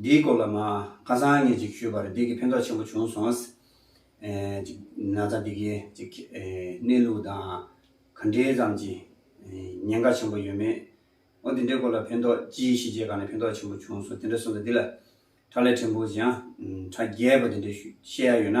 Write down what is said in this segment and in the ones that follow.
འདིའི་སྐོར་ལ་མ་ཁ་སང་ངས་ཅིག་ཞུས་པ་རེད་འདི་གིས་ཕན་ཐོགས་ཆེན་པོ་བྱུང་སོང། ཅིག་ན་ཚ་འདི་གིས་ཅིག་གནས་ལུགས་དང་ག་འདྲའི་ཙམ་གྱིས་ཉེན་ཁ་ཆེན་པོ་ཡོད་མེད། འོ་དེ་འདྲའི་སྐོར་ལ་ཕན་ཐོགས་ཅི་ཞིག་བྱས་གང་ནས་ཕན་ཐོགས་ཆེན་པོ་བྱུང་སོང་དེ་འདྲ་གསུངས་འདུག་འདི་ལ་དྲ་ལས་ཕྲན་བུ་ཅིག་ཡང་དྲ་རྒྱས་པ་དེ་འདྲས་བཤད་ཡ་ཡོད་ན།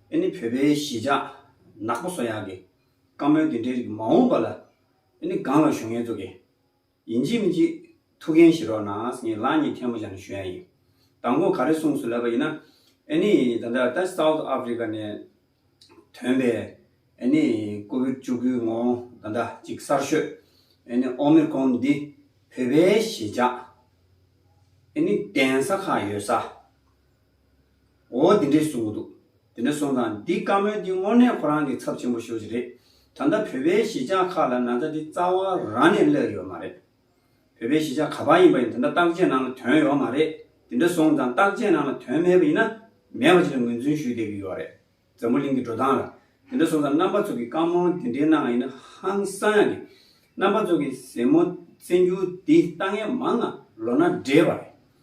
ཨེ་ནི་བོད་པའི་གཞིས་ཆགས་ནག་པོ་སོ་ཡག་གི་བཀའ་མོལ་དེ་འདྲའི་རིགས་མ་འོངས་པ་ལ་ཨེ་ནི་སྒང་ལ་ཞུ་ངན་བཙུག་གི་ཡིན་གཅིག་མི་གཅིག་ཐུགས་འགན་བཞེས་རོགས་གནང་ངས་ལག་གཉིས་ཐལ་མོ་བཞག་ནས་ཞུ་ཡ་ཡིན་དང་གོ་ག་རེ་གསུངས་སུ་ལབ་པ་ཡིན་ན་ཨེ་ནི་ད་ལྟ་ད South Africa ནས་ཐོན་པའི་ཨེ་ནི་ཀོ་བིར་བཅུ་དགུའི་ངོ་ད་ལྟ་གཅིག་གསར་ཤོས་ཨེ་ནི Omicron འདི་བོད་པའི་གཞིས་ཆགས་ཨེ་ནི་གདན་ས་ཁག་ཡོད་ས། འོ་འདི་འདྲས་སོང་གི་འདུག་འདི་འདྲ་སོང་ཙང་འདི་བཀའ་མོལ་འདི་དངོས་གནས་ཁོ་རང་གི་ཚབ་ཆེན་པོ་ཤོས་ཅིག་རེད་ད་ལྟ་བོད་པའི་གཞིས་ཆགས་ཁག་ལ་ན་ཚ་འདི་རྩ་བ་རང་ནས་སླེབས་ཡོད་མ་རེད། བོད་པའི་གཞིས་ཆགས་ག་པར་ཡིན་པ་ཡིན་དེ་འདྲ་བརྟག་དཔྱད་གནང་ལ་དོན་ཡོད་མ་རེད་འདི་འདྲ་སོང་ཙང་བརྟག་དཔྱད་གནང་ལ་དོན་མེད་པ་ཡིན་ན་མེད་པ་ཅིག་ལ་ངོས་འཛུན་ཞུས་བསྡད་ཀྱི་ཡོད་རེད་འཛམ་བུ་གླིང་གི་འགྲོ་སྟངས་ལ་འདི་འདྲ་སོང་ཙང་རྣམ་པ་ཚོ་གི་བཀའ་མོལ་འདི་འདྲས་གནང་ཡིན་ན་ཧང་སང་ཡག་གི་རྣམ་པ་ཚོ་གི་ཟེ་མོ་བཙན་རྒྱུག་འདི་ལྟ་ངན་མང་ང་ལོ་ན་བགྲེས་པ་རེད།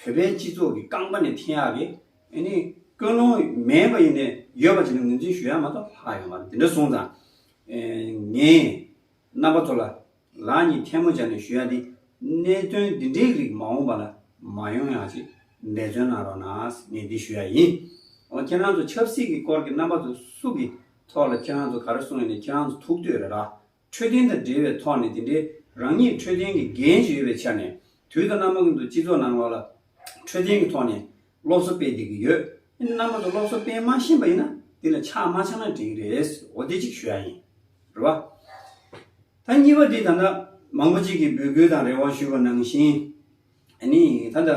བོད་པའི་སྤྱི་ཚོགས་ཀྱི་རྐང་པ་ནས་འཐེན་ཡག་གི་ནི་ཀུན་སློང་མེད་པ་ཡིན་ནས་ཡོད་པ་ཅིག་ནི་ངོས་འཛིན་ཞུ་ཡག་མ་གཏོགས་ལྷག་ཡོད་མ་རེད་དེ་འདྲ་གསུངས་ཙང་ངས་རྣམ་པ་ཚོ་ལ་ལག་གཉིས་ཐལ་མོ་སྦྱར་ནས་ཞུ་ཡག་འདི་གནད་དོན་འདི་འདྲའི་རིགས་མ་འོངས་པ་ལ་མ་ཡོང་ཡག་ཅིག་འབད་བརྩོན་གནང་རོགས་གནང་ངས་འདི་ཞུ་ཡག་ཡིན་འོང་ཁྱེད་རང་ཚོ་ཆབ་སྲིད་ཀྱི་སྐོར་གྱི་རྣམ་པ་ཚོ་སུ་གི་ཐོག་ལ་ཁྱེད་རང་ཚོ་ག་རེ་གསུངས་ཡོད་ནི་ཁྱེད་རང་ཚོ་ཐུགས་འདོད་རེད་ར་འཕྲོད་བསྟེན་དང་འབྲེལ་བའི་ཐོག་ནས་དེ་འདྲའི་རང་ཉིད་འཕྲོད་བསྟེན་གྱི་འགན་བཞེས་ཡོད་པའི་ཆ་ནས་དུས་དང་རྣམ་པ་ཀུན་ཏུ་སྤྱི་ཚོགས་ནང་ལ་ལ་འཕྲོད་བསྟེན་གྱི་ཐོག་ནས་སློབ་གསོ་སྤེལ་བསྡད་ཀྱི་ཡོད། ཡིན་ནའང་རྣམ་པ་ཚོ་སློབ་གསོ་སྤེལ་མ་ཤེས་པ་ཡིན་ན་དེ་ལ་ཆག་མ་ཆག་ན་དྲན་གྱི་རེད། འོ་དེ་གཅིག་ཞུ་ཡག་ཡིན། རེད་བ། ད་གཉིས་པ་དེ་ད་ལྟ་མང་པོ་ཅིག་གིས་འབོད་སྐུལ་དང་རེ་བ་ཞུས་པ་ནང་བཞིན་ཨ་ནི་ད་ལྟ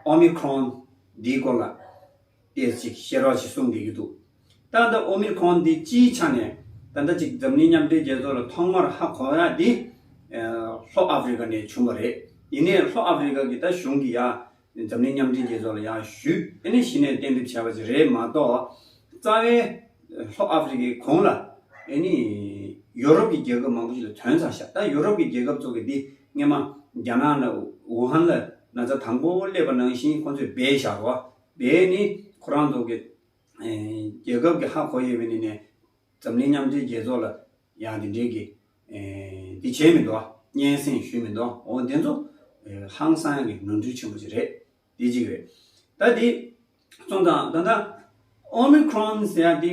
Omicron འདིའི་སྐོར་ལ། སྐད་ཅིག་ཤེས་རོགས་ཞེས་གསུངས་བསྡད་ཀྱི་འདུག་ད་ལྟ་ཨོ་མིར་ཁོང་འདི་སྤྱིའི་ཆ་ནས་ད་ལྟ་ཅིག་འཛམ་གླིང་མཉམ་འབྲེལ་རྒྱལ་ཚོགས་ལ་ཐོག་མར་ཧ་གོ་ཡ་དེ། ལྷོ་ཨ་ཕི་རི་ཀ་ནས་བྱུང་བ་རེད། ཡིན་ནས་ལྷོ་ཨ་ཕི་རི་ཀ་གི་ད་གཞུང་གི་ཡ། འཛམ་གླིང་མཉམ་འབྲེལ་རྒྱལ་ཚོགས་ལ་ཡ་ཞུས་ནས་གཞི་ནས་གཏན་འབེབས་བྱས་པ་ཞིག་རེད་མ་གཏོགས། རྩ་བའི། ལྷོ་ཨ་ཕི་རི་ཀའི་གོང་ལ། ཨེ་ནི། ཡོ་རོབ་ཀྱི་རྒྱལ་ཁབ་མང་པོ་ཞིག་ལ་དོན་ཚང་ཤག་ད་ཡོ་རོབ་ཀྱི་རྒྱལ་ཁབ་ཚོ་གི་འདི་སྔན་མ། རྒྱ་ནག་ན་ཝུ་ཧན་ལ་ན་ཚ་དང་པོ་སླེབས་པ་ནང་བཞིན་ཁོང་ཚོས་སྦས་བཞག་རོགས། དེ་ནི་ཁོ་རང་ཚོ་གི་རྒྱལ་ཁབ་ཀྱི་ཧ་གོ་ཡི་བའི་ནི་ནས་འཛམ་གླིང་མཉམ་འབྲེལ་རྒྱལ་ཚོགས་ལ་ཡང་དེ་འདྲའི་གི་དེ་བྱས་མི་འདུག་སྙན་སེང་ཞུས་མི་འདུག་འོ་དེ་ཚོ་ཧང་སང་གི་ནོར་འཁྲུལ་ཆེན་པོ་ཞིག་རེད་དེ་གཅིག་རེད། ད་དེ་ཙོང་ཙང་ད་ད Omicron ཟེར་ཡ་དེ།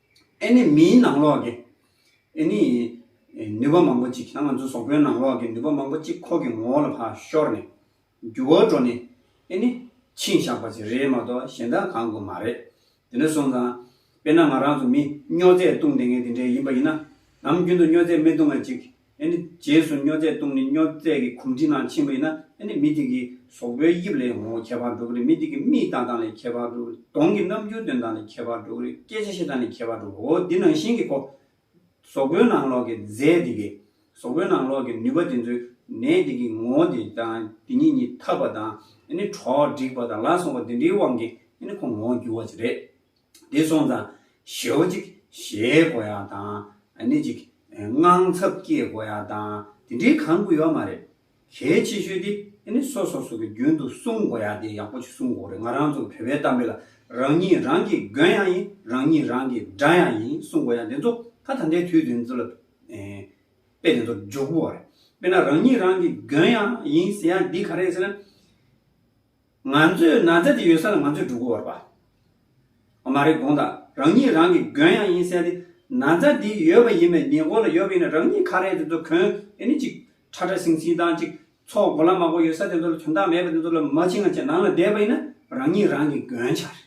ཨེ་ནི་མིའི་ནང་ལོགས་ཀྱི། ཨེ་ནི། ནུས་པ་མང་པོ་གཅིག་ང་ཚོ་ཟོག་པོའི་ནང་ལོགས་ཀྱི་ནུས་པ་མང་པོ་གཅིག་ཁོག་གི་ངོ་བོ་ལ་ཕར་ཤོར་ནས། རྒྱུ་བོར་འགྲོ་ནས། ཨེ་ནི། ཕྱིན་བཞག་པ་ཅིག་རེད་མ་གཏོགས་གཞན་དག་གང་དགོས་མ་རེད། དེ་ནས་བཟུང་ཙང། དཔེར་ན་ང་རང་ཚོ་མི་སྨྱོ་རྫས་བཏུང་བསྡད་མཁན་དེ་འདྲས་ཡིན་པ་ཡིན་ན། ནམ་རྒྱུན་དུ་སྨྱོ་རྫས་མི་བཏུང་བ་ཅིག་ཨེ་ནི། རྗེས་སུ་སྨྱོ་རྫས་བཏུང་ནས་སྨྱོ་རྫས་ཀྱི་གོམས་འདྲིས་ནང་ཕྱིན་པ་ཡིན་ན་ཨེ་ནི། མི་དེ་གི་ཟོག་པོའི་དབྱིབས་ལས་ངོ་བོ་ཁྱད་པར་འགྲོ་གི་རེད་མི་དེ་གི་མིག་དང་དང་ལས་ཁྱད་པར་འགྲོ་གི་རེད་གདོང་གི་རྣམ་འགྱུར་དོན་དང་ལས་ཁྱད་པར་འགྲོ་གི་རེད་སྐད་ཆ་བཤད་སྟངས་ལས་ཁྱད་པར་འགྲོ་གི་འོ་འདི་ནང་བཞིན་གྱི་གོ། ཟོག་པོའི་ནང་ལོགས་ཀྱི་རྫས་དེ་གི། ཟོག་པོའི་ནང་ལོགས་ཀྱི་ནུས་པ་དེ་ཚོའི་ནད་དེ་གི་ངོ་བོ་དེ་དང་དེ་གཉིས་གཉིས་འཐབ་པ་དང་ཨེ་ནི་གྲོགས་སྒྲིག་པ་དང་ལ་སོགས་པ་དེ་འདྲིའི་དབང་གིས་ཨེ་ནི་ཁོ་ངོ་བོ་འགྱུར་བ་ཅིག་རེད། དེ་སོང་ཙང་ཞེའུ་གཅིག་བཞེས་དགོས་ཡ་དང་ནི་གཅིག་དངངས་འཚབ་སྐྱེས་དགོས་ཡ་དང་དེ་འདྲའི་གང་དགོས་ཡོད་མ་རེད། གལ་ཆེ་ཤོས་དེ་ནི་སོ་སོ་སོ་གི་རྒྱུན་དུ་གསུང་དགོས་ཡ་དེ་ཡག་པོ་ཞིག་གསུང་དགོས་རེད་ང་རང་ཚོ་བོད་པའི་གཏམ་དཔེ་ལ་རང་ཉིད་རང་གིས་གོན་ཡ་ཡིན་རང་ཉིད་རང་གིས་འདྲ་ཡ་ཡིན་གསུང་དགོས་ཡ་དེ་ཚོ་ད་ད་འདའི་དུས་དེ་ཚོ་ལ་དཔེ་དེ་ཚོ་འཇོག་དགོས་རེད་དཔེ་ན་རང་ཉིད་རང་གིས་གོན་ཡ་ཡིན་ཟེར་ཡ་འདི་ག་རེད་ཟེར་ན། ང་ཚོས་ན་ཚ་དེ་ཡོད་ས་ལ་ང་ཚོས་འབྲུག་གུ་བར་པ། ཨ་མ་རེ་དགོངས་དང་རང་ཉིད་རང་གི་གོན་ཡང་ཡིན་གསལ་ཏེ། ན་ཚ་དེ་ཡོད་པ་ཡིན་པའི་ཉེ་འཁོར་ལ་ཡོད་པ་ཡིན་ན་རང་ཉིད་ཁ་རས་དེ་ཚོ་གོན་ཨེ་ནུས་ཅིག་ཁྲ་ཁྲ་ཟིང་ཟིང་དང་ཅིག་ཚོགས་མགོ་ལ་མ་མགོ་ཡོད་ས་དེ་ཚོ་ལ་དོན་དག་མེད་པ་དེ་ཚོ་ལ་མ་ཕྱི་ང་ཆེ་ནང་ལ་བསྡད་པ་ཡིན་ན་རང་ཉིད་རང་གི་གོན་ཆགས་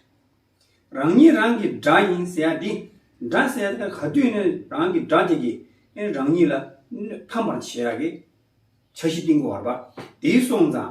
རེད། རང་ཉིད་རང་གི་དགྲ་ཡིན་གསལ་ཏེ། དགྲ་གསལ་ཏེ་ག་དུས་ནས་རང་གི་དགྲ་དེ་གིས་རང་ཉིད་ལ་ཕམ་པར་བྱས་ཡག་གི། འཆར་གཞི་གཏིང་གུ་བར་པ་དེའི་སོང་ཙང་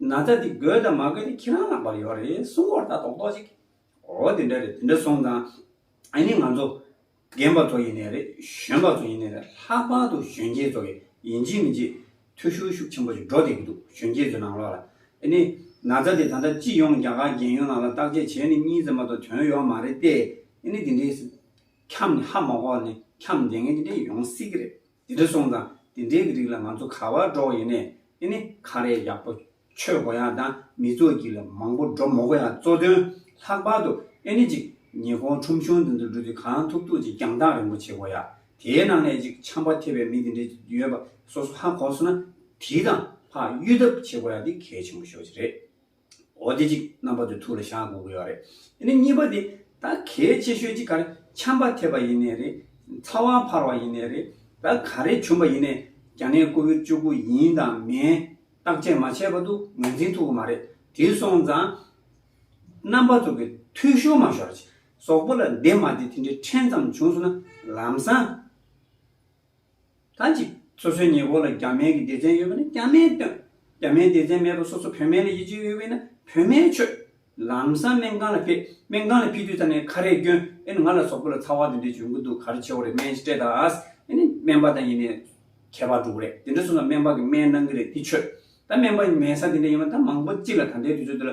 ན་ཚ་འདི་དགོས་དང་མ་དགོས་དེ་ཁྱེད་རང་ལ་བབ་ཡོད་རེད་གསུང་བར་ལྟ་རྟོག་རྟོག་ཅིག། འོ་དེ་འདྲ་རེད་དེ་འདྲ་སོང་དང། ཨ་ནི་ང་ཚོ་རྒན་པ་ཚོ་ཡིན་ནས་རེད་གཞོན་པ་ཚོ་ཡིན་ནས་རེད་ལྷག་པར་དུ་གཞོན་སྐྱེས་ཚོ་གི་ཡིན་གཅིག་མིན་གཅིག་ཐུ་ཤུར་ཤུགས་ཆེན་པོ་ཞིག་འགྲོ་བསྡད་ཀྱི་འདུག་གཞོན་སྐྱེས་ཚོའི་ནང་ལོགས་ལ། ཨ་ནི་ན་ཚ་འདི་ད་ལྟ་སྤྱི་ཡོངས་རྒྱ་གར་རྒན་ཡོལ་ནང་ལ་བརྟག་དཔྱད་བྱས་ནས་གཉིད་ཟེར་མ་གཏོགས་དོན་ཡོད་མ་རེད་དེ། ཨ་ནི་དེ་འདྲའི་ཁྱམས་ནི་ཧ་མ་གོ་ནི་ཁྱམས་འདེད་མཁན་དེ་འདྲ་ཡོང་སྲིད་ཀྱི་རེད། འདི་འདྲ་སོང་ཙང་དེ་འདྲའི་གི་རིགས་ལ་ང་ཚོ་ག་བར་འགྲོ་ཡིན་ནས་ཨེ་ནི་ཁ་རས་ཡག་པོ་ཆོད་དགོ་ཡག་དང་མི་ཚོགས་ཀྱི་ལ་མང་པོ་འགྲོ་མོ་གོ་ཡག་གཙོ་དོན་ལྷག་པར་དུ་ཨེ་ནི་ཅིག་ཉི་ཧོང་ཁྲོམ་གཞུང་འདི་འདྲ་འགྲོ་དུས་གང་ཐུབ་ཐུབ་ཅིག་རྒྱང་ཐག་རིང་པོ་བྱེད་དགོ་ཡག་དེའི་ནང་ནས་ཅིག་ཆམ་པ་ཐེབས་པའི་མི་དེ་འདྲའི་ཅིག་ཡོད་པ་སོ་སོ་ཧ་གོ་སོང་ན་དེའི་དང་ལྷག་གཡུལ་ཐབས་བྱེད་དགོ་ཡག་འདི་གལ་ཆེན་པོ་ཤོས་ཅིག་རེད། འོ་དེ་ཅིག་རྣམ་པ་དུ་ཐུགས་ལ་བཞག་དགོས་ཀྱི་ཡོད་རེད། དེ་ནས་གཉིས་པ་དེ་ད་གལ་ཆེ་ཤོས་ཅིག་ག་རེ་འཁྱམས་པ་ཐེབས་པ་ཡིན་ནའི་རེད། ཚ་བ་འཕར་བ་ཡིན་ནའི་རེད། ད་ག་རེ་བྱུང་བ་ཡིན་ནའི་རྒྱ་ནད་ཀོ་བིར་བཅུ་དགུ་ཡིན་དང་མིན་བརྟག་དཔྱད་མ་བྱས་པ་དུ་ངོས་འཛིན་ཐུབ་ཀྱི་མ་རེད། དེ་སོང་ཙང་རྣམ་པ་ཚོ་གི་ཐུགས་ཤོར་མ་ཤོར་ཅིག་ཟོག་པོ་ལ་འདི་མ་འདི་དེ་འདྲའི་ཕྲན་ཙམ་བྱུང་སོང་ན་ལམ་སང། ད་ཅིག་སོ་སོའི་ཉེ་འཁོར་ལ་རྒྱ་སྨན་གྱི་སྡེ་ཚན་ཡོད་པ་ནི་རྒྱ་སྨན་སྟོན། རྒྱ་སྨན་སྡེ་ཚན་མེད་པར་སོ་སོ་བོད་སྨན་ལ་ཡིད་ཆེས་ཡོད་པས་ན་བོད་སྨན་མཆོད། ལམ་སང་སྨན་ཁང་ལ་ཕེབས། སྨན་ཁང་ལ་ཕེབས་དུས་ད་ནས་ཁ་རས་བསྐྱོན། ཨེ་ནི་ང་ལ་སོག་པོ་ལ་ཚ་བ་དེ་འདྲས་བྱོན་གྱི་འདུག་ག་རེ་བྱེད་འོ་རེད་སྨན་སྤྲད་ད། ཨེ་ནི་སྨན་པ་དང་ཡིན་ནས་ཁྱད་པར་འགྲོ་གི་རེད་དེ་འདྲས་སོང་ཙང་སྨན་པ་གིས་སྨན་གནང་གི་རེད་དེ་མཆོད། ད་སྨན་པ་མེད་ས་དེ་འདྲས་ཡིན་པ་ད་མང་པོ་གཅིག་ལ་ད་ལྟའི་དུས་ཚོད་འདི་ལ་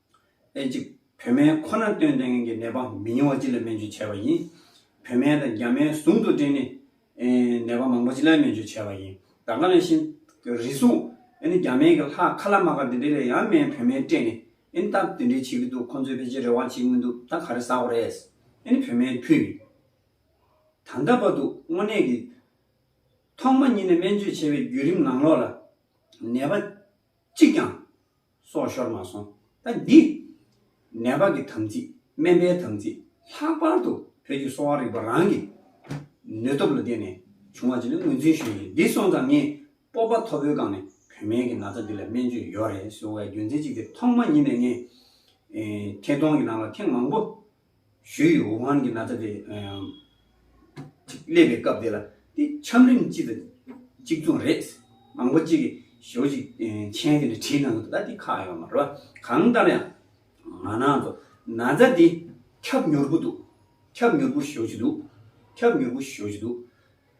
ཨེ་ཅིབ། བོད་སྨན་ཁོ་ནར་བཏོན་ལྡན་མཁན་གྱི་ནད་པ་མི་ཉུང་བ་སྤྱི་ལ་སྨན་བཅོས་བྱས་པ་ཡིན། བོད་སྨན་དང་རྒྱ་སྨན་ཟུང་དུ་སྦྲེལ་ནས། ནད་པ་མང་པོ་སྤྱི་ལ་སྨན་བཅོས་བྱས་པ་ཡིན། ད་ག་ལ་བཞིན། རེ་ཟུང། རྒྱ་སྨན་གྱི་ལྷག་ཁ་ལ་མ་ཁ་དེ་འདྲས་ལས་ཡང་སྨན་བོད་སྨན་སྤྲད་ནས། ད་དེ་འདྲས་བྱེད་ཀྱི་འདུག་ཁོང་ཚོས་ཕལ་ཆེར་རེ་བ་བྱེད་ཀྱི་མི་འདུག་ད་ག་རེ་ཟ་གོ་རེད། བོད་སྨན་ཕུད་ཡིན། ད་ལྟ་བར་དུ་དངོས་གནས་ཀྱི། ཐོག་མ་ཉིད་ནས་སྨན་བཅོས་བྱས་པའི་བརྒྱུད་རིམ་ནང་ལོགས་ལ། ནད་པ། གཅིག་ཀྱང། སོགས་ཤོར་མ་སོང་ད་འདི། ནད་བག་གི་དམ་ཚིག་སྨན་པའི་དམ་ཚིག་ལྷག་པར་དུ་བོད་ཀྱི་གསོ་བ་རིག་པ་རང་གི་ནུས་སྟོབས་ལ་བརྟེན་ནས་བྱུང་བ་ཅིག་ལ་ངོས་འཛིན་ཞུས་ཡིན་འདི་སོང་ཙང་ངས་སྤོབས་པ་མཐོ་པོའི་སྒང་ནས་བོད་སྨན་གྱི་ན་ཚ་འདི་ལ་སྨན་བཅོས་ཡོད་རེད་ཟེར་བའི་རྒྱུ་མཚན་ཅིག་དེ་ཐོག་མ་ཉིད་ནས་ངས་ཐད་གཏོང་གི་ནང་ལ་ཐེངས་མང་པོ་ཞོའི་ཡུལ་ཝུ་ཧན་གྱི་ན་ཚ་དེ་སླེབས་པའི་སྐབས་དེ་ལ་དེ་ཆམ་རིམས་གཅིག་དང་གཅིག་མཚུངས་རེད། མང་པོ་གཅིག་གིས་ཞོ་གཅིག་མཆན་དེ་འདྲ་བྲིས་གནང་གི་འདུག་ད་དེ་ཁག་ཡོད་མ་རེད། གང་ལྟར་ཡང་ང་ནང་དུ་ན་ཚ་དེ་ཁྱབ་མྱུར་པོ་འདུག་ཁྱབ་མྱུར་པོ་ཞོ་གཅིག་འདུག་ཁྱབ་མྱུར་པོ་ཞོ་གཅིག་འདུག།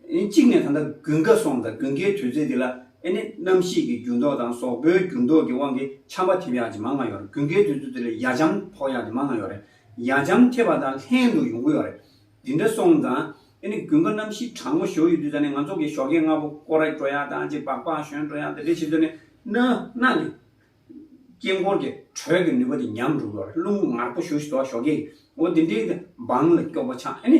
གཅིག་ནས་ད་ལྟ་དགུན་ཁ་སོང་དང་དགུན་ཁའི་དུས་ཚོད་འདི་ལ་ཨེ་ནི་གནམ་གཤིས་ཀྱི་འགྱུར་ལྡོག་དང་ཟོག་པོའི་འགྱུར་ལྡོག་གི་དབང་གིས་ཆམ་པ་ཐེབས་ཡག་ཅིག་མང་ང་ཡོད་རེད་དགུན་ཁའི་དུས་ཚོད་འདི་ལ་ཡ་ཆམ་ཕོག་ཡག་ཅིག་མང་ང་ཡོད་རེད་ཡ་ཆམ་ཐེབས་པ་དང་ལྷན་དུ་ཡོང་གི་ཡོད་རེད་འདི་འདྲ་སོང་དང་ཨེ་ནི་དགུན་ཁ་གནམ་གཤིས་གྲང་མོ་ཞོ་ཡོད་དུས་ད་ནི་ང་ཚོ་གིས་ཞོ་ཁའི་རྔ་བོ་ཀོ་རེག་བྲོ་ཡག་དང་ཅིག་སྦག་སྦག་ཞོན་བྲོ་ཡག་དེ་འདྲའི་བྱེད་དུས་ནི་ནི་ནག་གི་དཀྱིལ་འཁོར་གྱི་དྲོད་ཀྱི་ནུས་པ་དེ་ཉམས་འགྲོ་གི་ཡོད་རེད་རླུང་ངར་པོ་ཞུ་ཞུ་དོ་ཞོ་ཁའི་འོ་དེ་འདྲའི་འདི་འབངས་ལ་སྐྱོ་པོ་ཆགས་ཨེ་ནི།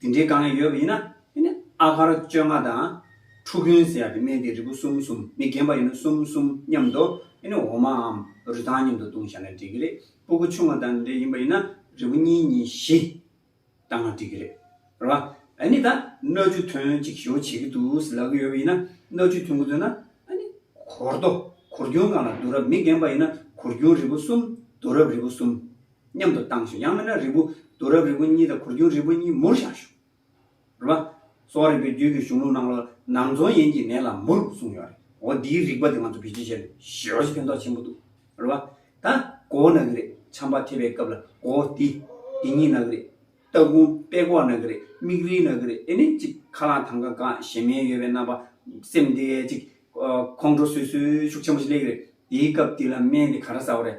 དེ་འདྲའི་དཀའ་ངལ་ཡོད་པ་ཡིན་ན་དེ་ནི་ཨ་གར་བཅོ་ལྔ་དང། ཁྲུ་གུན་ཟེར་ཡག་གི་སྨན་དེ་རིལ་བུ་གསུམ་གསུམ་མི་རྒན་པ་ཡིན་ན་གསུམ་གསུམ་མཉམ་དུ་དེ་ནི་འོ་མའམ་རུས་ཐང་མཉམ་དུ་བཏུང་བཞག་ན་འགྲིག་གི་རེད་སྤུ་གུ་ཆུང་བ་དང་འདྲ་ཡིན་པ་ཡིན་ན་རིལ་བུ་གཉིས་གཉིས་བཞི་བཏང་ན་འགྲིག་གི་རེད་རེད་བ། ཨ་ནི་ད་སྣོད་བཅུད་ཐོན་གཅིག་ཞོ་བྱེད་ཀྱི་འདུག་ཟེར་ལབ་ཀྱི་ཡོད་པ་ཡིན་ན་སྣོད་བཅུད་ཐོན་གི་འདོད་ན་ཨ་ནི་གོར་རྡོ་གོར་རྒྱུན་སྒང་ལ་བསྡུ་རབས་མི་རྒན་པ་ཡིན་ན་གོར་རྒྱུན་རིལ་བུ་གསུམ་བསྡུ་རབས་རིལ་བུ་གསུམ། མཉམ་དུ་བཏང་ཞིང་ཡང་མིན་ན་རིལ་བུ་བསྡུ་རབས་རིལ་བུ་གཉིས་དང་གུར་རྒྱུན་རིལ་བུ་གཉིས་མུར་བཞག་ཞུ། རུ་བ། གསོ་བ་རིག་པའི་རྒྱུད་ཀྱི་གཞུང་ལུགས་ནང་ལ་ནང་རྫོང་ཡན་གྱི་ནད་ལ་མུར་གསུངས་ཡོད་རེད། འོ་འདིའི་རིག་པ་དེ་ང་ཚོ་བེད་སྤྱོད་བྱས་ན་ཞེ་བ་ཞིག་ཕན་ཐོག་ཆེན་པོ་འདུག་རུ་བ། ད་གོ་བོ་ན་གི་རེད་ཆམ་པ་ཐེབས་པའི་སྐབས་ལ་གོ་བོ་འདི། འདི་གཉིས་ན་གི་རེད། ལྟ་སྒོང་པད་གོག་ན་གི་རེད་མིག་རིལ་ན་གི་རེད་དེ་ནི་ཅིག་ཁ་རླངས་ཐང་ཀ་འགག་ཞེ་མེད་ཡོད་པའི་རྣམ་པ། སེམས་དེ་ཅིག། ཁོང་ཁྲོ་སོས་སོས་ཤུགས་ཆེན་པོ་ཞིག་སླེབས་ཀྱི་རེད། དེའི་སྐབས་འདི་ལ་སྨན་དེ་ག་རེ་ཟ་བ་རེད།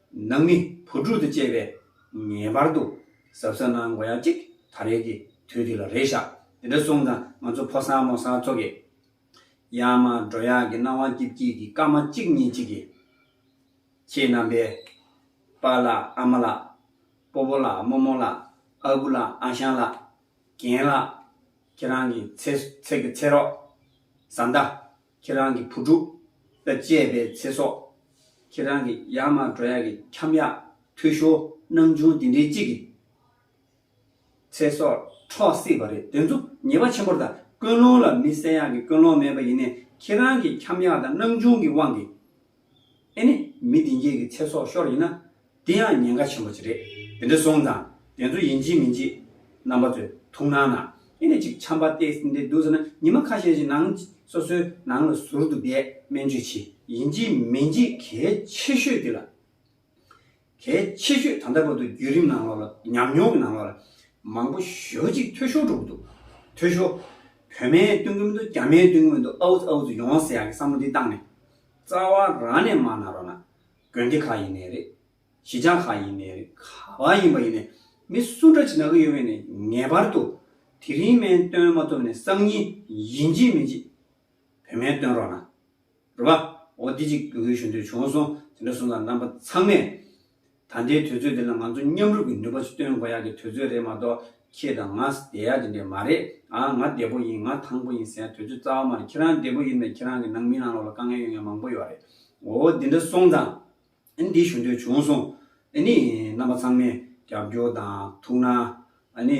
ནང་མི་བུ་ཕྲུག་དང་བཅས་པས་ངེས་པར་དུ་གཟབ་གཟབ་གནང་དགོས་ཡ་གཅིག་ད་རེས་ཀྱི་དུས་འདི་ལ་རེ་བཞག་འདི་འདྲ་སོང་ཙང་ང་ཚོ་ཕོ་སང་མོ་སང་ཚོ་གི་ཡང་མ་འགྲོ་ཡག་གི་སྣང་བ་སྐྱིད་སྐྱིད་ཀྱི་སྐར་མ་གཅིག་གཉིས་གཅིག་གི་ཁྱེད་རྣམ་པས་པ་ལགས་ཨ་མ་ལགས་སྤོ་བོ་ལགས་རྨོ་མོ་ལགས་ཨ་ཁུ་ལགས་ཨ་ཞང་ལགས་རྒན་ལགས་ཁྱེད་རང་གི་ཚེ་ཚད་ཀྱི་ཚེ་རོགས་བཟའ་ཟླ། ཁྱེད་རང་གི་བུ་ཕྲུག་ལ་སྤྱད་པའི་ཚེ་སྲོག། ཁྱེད་རང་གི་ཡར་མར་འགྲོ་ཡག་གི་འཁྱམ་ཡག་འཐུས་ཤོར་སྣང་ཆུང་དེ་འདྲའི་གཅིག་གི་ཚེ་སྲོག་འཕྲོག་སྲིད་པ་རེད་དེ་ཚོ་ཉེས་པ་ཆེན་པོར་ལྟ་ཀུན་སློང་ལ་མི་གསལ་ཡག་གི་ཀུན་སློང་མེད་པ་ཡིན་ནས་ཁྱེད་རང་གི་འཁྱམ་ཡག་དང་སྣང་ཆུང་གི་དབང་གིས་ཨེ་ནས་མི་བདེན་རྒྱལ་གྱི་ཚེ་སྲོག་ཤོར་ཡིན་ན་དེ་ཡང་ཉེན་ཁ་ཆེན་པོ་ཅིག་རེད་དེ་འདྲ་སོང་ཙང་དེ་ཚོ་ཡིན་གཅིག་མིན་གཅིག་རྣམ་པ་ཚོས་ཐུགས་སྣང་ན་ཨེ་ནས་ཅིག་ཆམ་པ་སྟེ་སྲིན་དེ་འདུག་ཟེར་ན་ཉི་མ་ཁ་ཤས་ཀྱི་ནང་སོ་སོའི་ནང་ལ་ཟུར་དུ་བསྡད་སྨན་བཅོས་བྱེད་ཡིན་གཅིག་མིན་གཅིག་གལ་ཆེ་ཤོས་དེ་ལ། གལ་ཆེ་ཤོས་ད་ལྟ་བར་དུ་བརྒྱུད་རིམ་ནང་ལོགས་ལ་ཉམས་མྱོང་གི་ནང་ལོགས་ལ་མང་པོ་ཞོ་གཅིག་ཐོས་ཤོར་འགྲོ་གི་འདུག་ཐོས་ཤོར། བོད་མའི་སྟོན་གི་མི་འདུག་རྒྱ་མའི་སྟོན་གི་མི་འདུག་ཨའུ་ཙི་ཨའུ་ཙི་ཡོང་བ་ཟེར་ཡག་གི་བསམ་བློ་འདི་བཏང་ནས། རྩ་བ་རང་ནས་མར་ན་རོགས་ན། དགོན་སྡེ་ཁག་ཡིན་ནས་རེད། གཞིས་ཆགས་ཁག་ཡིན་ནས་རེད་ག་བ་ཡིན་པ་ཡིན་ནས་མི་སུ་འདྲ་བྱེད་ན་གི་ཡོད་མེད་ནས་ངེས་པར་དུ་དེ་རིང་མན་སྟོན་མ་ཐུབ་ནས་སང་ཉིན་ཡིན་གཅིག་མིན་གཅིག་བོད་སྨན་སྟོན་རོགས་གནང། རེད་པ། འོ་དེ་ཅིག་དགོས་ཞུ་འདོད་བྱུང་སོང་དེ་འདྲ་སོང་ཙང་རྣམ་པ་ཚང་མས། ད་ལྟའི་དུས་ཚོད་འདི་ལ་ང་ཚོ་མཉམ་རུབ་ཀྱི་ནུས་པ་ཞིག་སྟོན་དགོས་ཡག་གི་དུས་ཚོད་རེད་མ་གཏོགས་ཁྱེད་དང་ང་བསྡད་ཡག་དེ་འདྲས་མ་རེད་ཨ་ང་བདེ་པོ་ཡིན་ང་ཐང་པོ་ཡིན་ཟེར་ཡག་དུས་ཚོད་རྩ་བ་མ་རེད་ཁྱེད་རང་བདེ་པོ་ཡིན་པས་ཁྱེད་རང་གི་ནང་མི་ནང་ལོག་ལ་དཀའ་ངལ་ཡོད་མཁན་མང་པོ་ཡོད་རེད་འོ་དེ་འདྲ་སོང་ཙང་ཨ་ནི་འདི་ཞུ་འདོད་བྱུང་སོང་ཨ་ནི་རྣམ་པ་ཚང་མས་རྒྱབ་སྐྱོར་དང་ཐུགས་སྣང་ཨ་ནི།